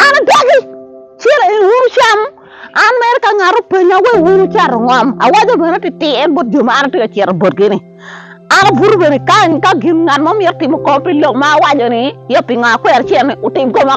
An adagi, cit i uru cam. An mere ka ngat openya wek wun wucato ngom, awaco bene tityen bot jo ma an atye ka cito botgi ni, an abuto bene kany ka gin ngat mo myero timo kong pi lok ma awaco ni, ya pingo akwero cen ni wutim koma.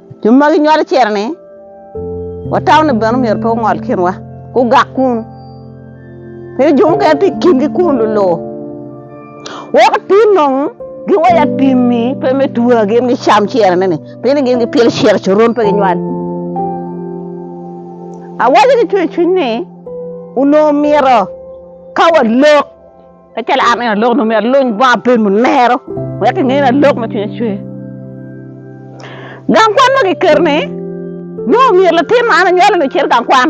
Jo ma ginywalo cere-ni, watawone bene omyero pe ongol kinwa, gugak kun. Pe jo mukene tye i kingi kun lulur. Weko atir nong giwaci atimmi pe me tua gin gicam cere-ni, pien ni gin gipyelo cere coron pe ginywal. Awaco ki cwecwiny ni onongo myero ka walok Kacel an en alok nongo myero aluny bongo abed munero wek kinge ni alok ma cwinye cwer. Gang kwan ma kiketo ni nongo myero latin ma an anywalo ni ocit gang kwan.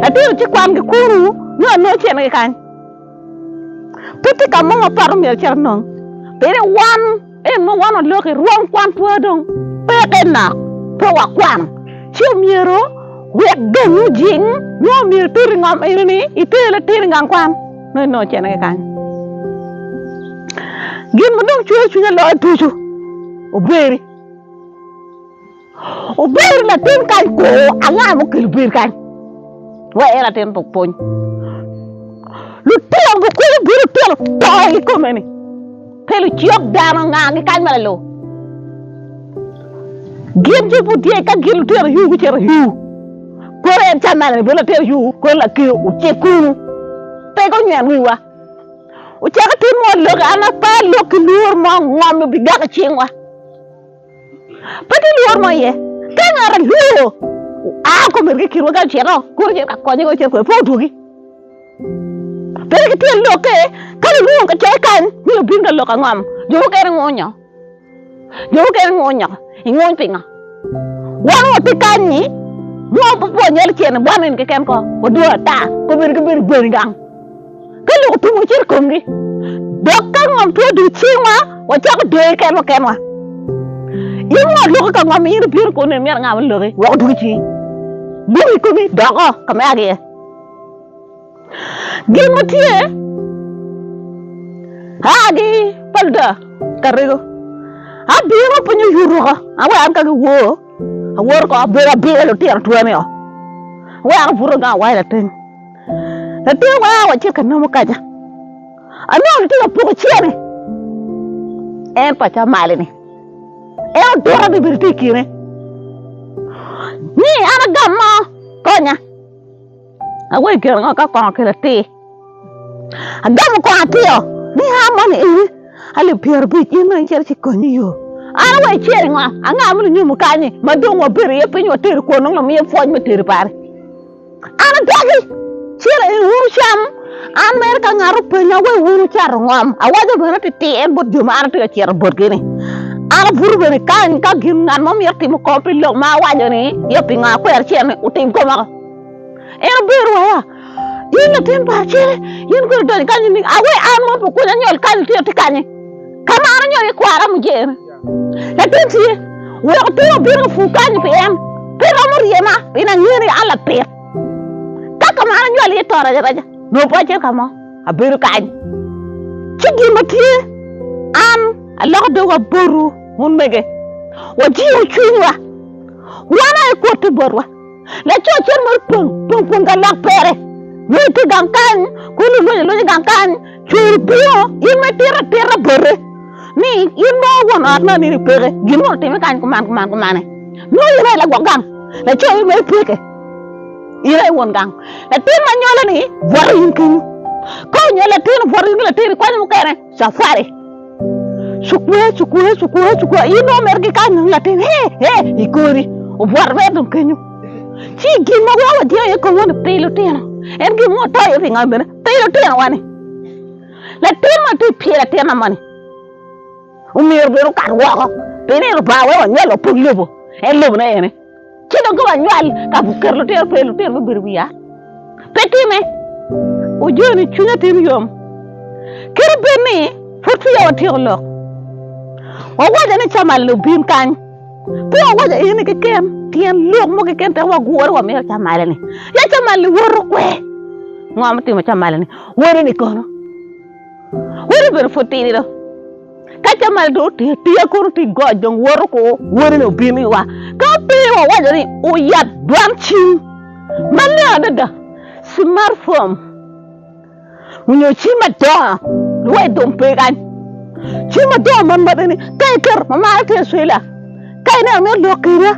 Latin ocit kwan gi kunu nongo nongo cene ki kany. Pe tye ka mo mapat myero cito nong. Pire wan En ma wan oloko i rwom kwanpwa dong peke nok pe wakwano, ci omyero wek dong ojing nyo omyero itut i ngom eno ni iter latin i gang kwan nongo inongo cene ki kany. Gin ma dong cweyo cwinya loyo ducu obweri. Obedo latin kany kwo anga ma okelo bedo kany? Wa en atin tuk pwony. Lutino gukulu bedo lutino to i kome ni. Pe lucok dano anga gikany ma lalo. Gin ci pud tye ka gin lutino yu gucito yu. Kono en can man bedo latin yu kono lakir ocek kunu. Pe gunyen wiwa. Ocako timo lok an apa lok ki lur mo ngom bi gak i cingwa. Pe tye lworo mo iye. Ka ngat alwor oa kom irgi kirwa ka ocito kuro ocito ka konye ka ocito kwede pe odwogi. Pe wek itye lokke ka lulwongo ka coc kany ni obin ka lok angom. Jo mukene ngunyo. Jo mukene ngunyo. Inguny pingo? Wan wati kany-nyi nongo pe pwonye lacen bwano in keken ko. Wadwor ata. Kombeddi ki bedo bwani gang. ka lok otum wacito i komgi dok ka ngom two dul cingwa wacako deyo kenwa kenwa in won loko ka ngom in ibino kono neno myero nga ma loki weko dul cing buk i komi doko ka ma agiye gin ma tye agi pa luda karego abino pe nyo yuruka awe an ka giwor awor ko abedo abilo lutino twani o awe an abuto gang awaco latin Latin wara wacit ka nomo kaca. Anongo litye ka poko cene. En paca mali-ni. En odura ni bedo tye i kine. Ni an agam mo konya. Awe i kine ngo ka kongo ki latir. Agamo kongo atio ni an moni ini alip pyero abic in dong icito ci konyo yo. An awe icer i ngo? Anga ma lunyomo kanyi ma dong wabedo iye piny wateri kwon dong lamiye pwoc me teri pare. An adagi, cit i wunu cam. An mere ka ngat openya wek wun wucato ngom, awaco bene titier bot jo ma an atye ka cito botgi ni, an abuto bene kany ka gin ngat mo myero timo kong pi lok ma awaco ni ya pingo akwero acel ni wutim koma ko. En obedo waya, in latin pa acele, in kodi idonyo kany ni awe an ma pe okunya nyol kany itye atye kany-nyi. Ka ma an anyol ikwara mujer. Latin tye, weko pe wabin ka pur kany pi en pe romo ryema, pien angeyo ni an lapit. Ka ka ma an anywal iye to raja raja, nongo pe acito ka mo, abedo kany. Ci gin ma tye, an aloko dogwa botwu, wun mege, wajiwu cwinywa, wan aye kwotte botwa. Laco acel mo opong pong ka lok pere, lweny tye i gang kany, kulu lweny lweny i gang kany, cwer obingo, in ma itito atita bote ni in mo won ot ma nini peke, gin mo otime kany kuman kuman kumane, nongo in aye lagwok gang, laco in ma ipeke, in aye won gang, latin ma nyole ni bwote in kenyo, ka onywalo latin obwote in ki latin ikwanyo mukene. Safari. Cukwe, cukwe, cukwe, cukwe. In nongo meri ki kany nongo latin. He, he, i kori. Obwot mere dong kenyo. Ci gin ma wea wadyeo iye kong ni pi lutino. En gin mo to iye pi ngam bene. Pi lutino wani. Latin ma ti pye latin na moni. Omyero bene okat woko. Pi ni Lubanga wea wanywal wapod lobo. En lobo na ene. Ci dong ka wanywal ka keto lutino pe lutino me bedo wiya pe time ojo ni cwinya timo yom kadi bed ni pud peya watyeko lok wawaco ni camalni obin kany pe wawaco eni keken tyen lok mo keken teko wagure wamito camalni ya camalni woto kwe ngo ma timo camalni wodini kono wodi obedo pud tidi do. Ka camal dong otye atir kono tye got dong woto ko wonene obino iwa. Ka pe wawaco ni oyat dwan cim maleng adada, smartphone onyo cim madongo luwai dong pe kany. Cim madongo man ma bene ka iketo ma marre tye Australia ka ineno mito lok kwede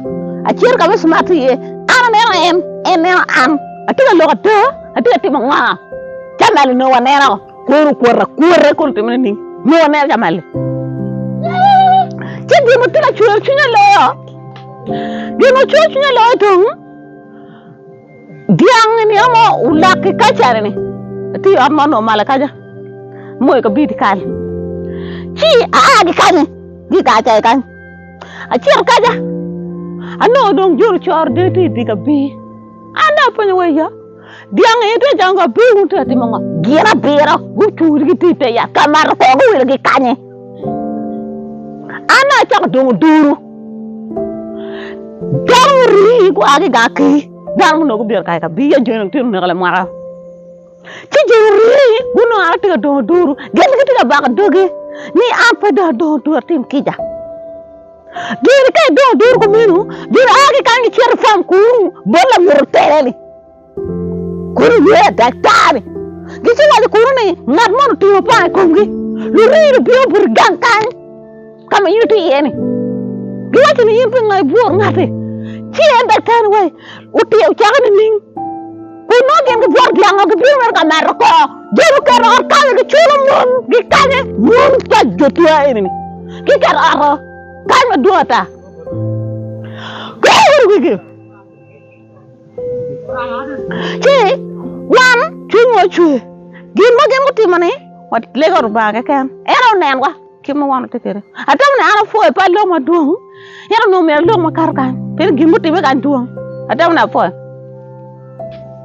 acito ka ma smart tye iye an aneno en, en neno an. Atye ka lok ada atye ka timo ngo? Camal onongo waneno. Kwero kwota kwota kun timone ni nongo aneno ka mali ci gin matye ka cwero cwinya loyo gin ma cwero cwinya loyo dong dyang ni ama olak i kacere ni atye i ot mo nongo malo kaca mo i kabidi kal ci aa ki kany ki i kar cayi kany acito kaca anongo dong joni coro dee tye i dyek abir an dong apenyo wa iya Dyang aye tye acama ka pe wun tye ka timo ngo? Gin abiro gucur gitye i te yat ka mato kor guwilo gi kanye? An na acako dongo duru dano murii gua ki gang ki dano muno gubiro kare ka biya joni gitino neka lamwaka ci joni orii gunongo an atye ka dongo duru gin gitye ka bako dogi ni an pe dong adongo duru atim kica Gin ka idong iduro kumeno, gin a ki kany gicito i fam kunnu bot lanyuto tela-ni, kun iye daktar-ni gici waco kunnu ni ngat moni otingo panga i komgi. Luringi lubino buti gang kany ka ma in itye iye-ni, giwaco ni in pingo ibworo ngati? Ci en daktar-ni waci, Ocako nining? Kun nongo gin gibworo gin ango? Gibino mere ka mato koo. Jo guketo ot kame giculo mon gikanye. Mon pa jo twa eni-ni giketo ot-o kany madwong ata. Kweyo wunu wigi ci wan cwinywa ocwe. Gin ma gin gutimo-ni walego Lubanga keken. En aye onenwa kit ma wan watye kwede. Atamo ni an apwoyo pe aloko madwong, ento nongo myero alok makato kany, pieni gin mutimme kany dwong. Atamo ni apwoyo.